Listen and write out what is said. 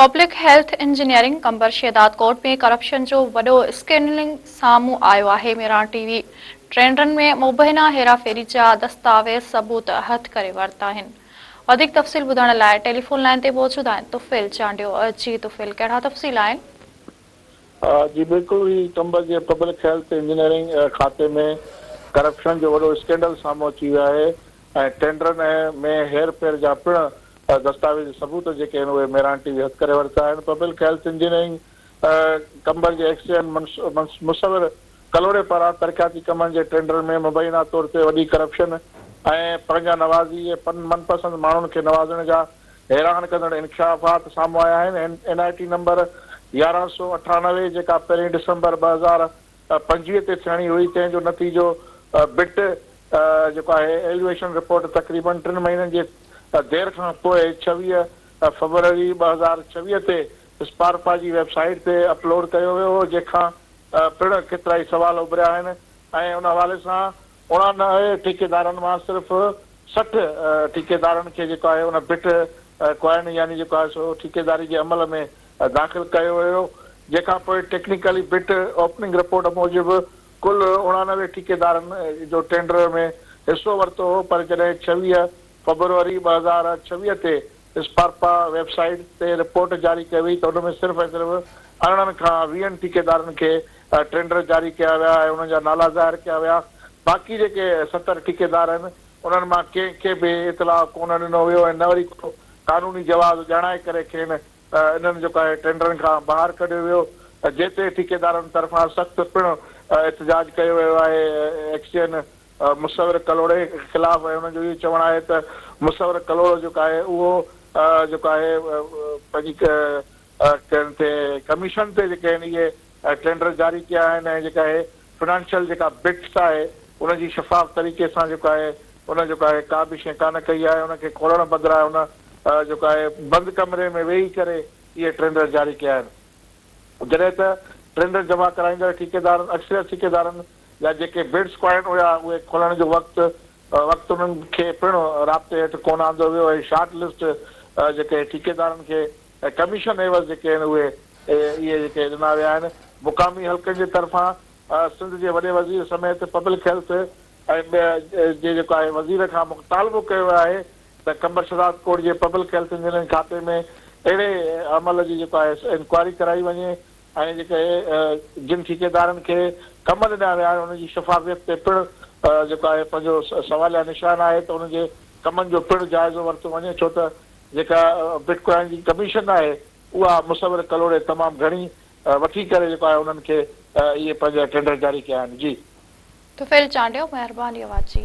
Public health engineering Qambar Shahdadkot ۾ corruption جو وڏو اسڪينڊلنگ سامهون آيو آهي ميران ٽي وي ٽينڊرن ۾ مبينا هيراڦيري جا دستاويز ثبوت هٿ ڪري ورتا آهن وڌيڪ تفصيل ٻڌڻ لاء ٽيليفون لائين تي موجود آهن طفيل چانڊيو جي طفيل ڪهڙا تفصيل آهن جي بلڪل هي چمبر جي پبلڪ هيلٿ انجنيئرنگ کاتي ۾ ڪرپشن جو وڏو اسڪينڊل سامهون اچي ويو آهي ۽ ٽينڊرن ۾ هير ڦير جا پڻ دستاويزي ثبوت جيڪي آهن اهي ميران ٽي وي هٿ ڪري ورتا آهن پبلڪ هيلٿ انجنيئرنگ چمبر جي ايڪس اينڊ مصور ڪلهوڙي پاران ترقياتي ڪمن جي ٽينڊرن ۾ مبينا طور تي وڏي ڪرپشن ۽ پنهنجا نوازي ۽ من پسند ماڻهن کي نوازڻ جا حيران ڪندڙ انڪشافات سامهون آيا آهن، اين آء ٽي نمبر يارهن سؤ اٺانوي جيڪا پهرين ڊسمبر ٻه هزار پنجويهه تي ٿيڻي هئي تنهن جو نتيجو بٽ جيڪو آهي ايلويشن رپورٽ تقريبن ٽن مهينن جي دير کان پوء ڇويهه فبروري ٻه هزار ڇويهه تي اسپارپا جي ويب سائيٽ تي اپلوڊ ڪيو ويو هو جنهن کان پڻ ڪيترائي سوال اڀريا آهن ۽ ان حوالي سان اڻاڻ ٺيڪيدارن مان صرف سٺ ٺيڪيدارن کي جيڪو آهي ان بٽ ڪوائن يعني جيڪو آهي سو ٺيڪيداري جي عمل ۾ داخل ڪيو ويو جنهن کان پوء ٽيڪنيڪلي بٽ اوپننگ رپورٽ موجب ڪل اڻاڻوي ٺيڪيدارن جو ٽينڊر ۾ حصو ورتو هو پر جڏهن ڇويهه فبروري ٻه هزار ڇويهه تي اسپارپا ويب سائيٽ تي رپورٽ جاري ڪئي وئي ته ان ۾ صرف ۽ صرف ارڙهن کان ويهن ٺيڪيدارن کي ٽينڊر جاري ڪيا ويا ۽ انهن جا نالا ظاهر ڪيا ويا باقي جيڪي ستر ٺيڪيدار آهن انهن مان ڪنهن کي به اطلاع ڪونه ڏنو ويو ۽ نه وري ڪو قانوني جواز ڄاڻائي ڪري کين انهن جيڪو آهي ٽينڊرن کان ٻاهر ڪڍيو ويو جنهن تي ٺيڪيدارن طرفان سخت پڻ احتجاج ڪيو ويو آهي ايڪسين مصور ڪلهوڙي خلاف انهن جو اهو چوڻ آهي ته مصور ڪلهوڙو جيڪو آهي اهو جيڪو آهي پنهنجي ڪنهن تي ڪميشن تي جيڪي آهن اهي ٽينڊر جاري ڪيا آهن ۽ جيڪا اهي فنانشل جيڪا بٽس آهي ان جي شفاف طريقي سان جيڪو آهي ان جيڪو آهي ڪا به شيء ڪانه ڪئي آهي ان کي کولڻ بدران ان جيڪو آهي بند ڪمري ۾ ويهي ڪري اهي ٽينڊر جاري ڪيا آهن جڏهن ته ٽينڊر جمع ڪرائيندڙ ٺيڪيدارن اڪثريت ٺيڪيدارن يا جيڪي بڊس پوائنٽ هيا اهي کولڻ جو وقت وقت انهن کي پڻ رابطي هيٺ ڪونه آندو ويو ۽ شارٽ لسٽ جيڪي ٺيڪيدارن کي ڪميشن عيوض جيڪي آهن اهي اهي جيڪي ڏنا ويا آهن مقامي حلقن جي طرفان سنڌ جي وڏي وزير سميت پبلڪ هيلٿ جي جيڪو آهي وزير کان مطالبو ڪيو ويو آهي ته قمبر شهزاد ڪوٽ جي پبلڪ هيلٿ انجنيئرنگ کاتي ۾ اهڙي عمل جي جيڪو آهي انڪوائري ڪرائي وڃي ۽ جيڪي جن ٺيڪيدارن کي ڪم ڏنا ويا آهن انهن جي شفافيت تي پڻ جيڪو آهي پنهنجو سواليه نشان آهي ته انهن جي ڪمن جو پڻ جائزو ورتو وڃي ڇو ته جيڪا بٽ ڪوائن جي ڪميشن آهي اها مصور ڪلهوڙي تمام گهڻي وٺي ڪري جيڪو آهي انهن کي اهي پنهنجا ٽينڊر جاري ڪيا آهن جي. طفيل چانڊيو مهرباني اوهان جي.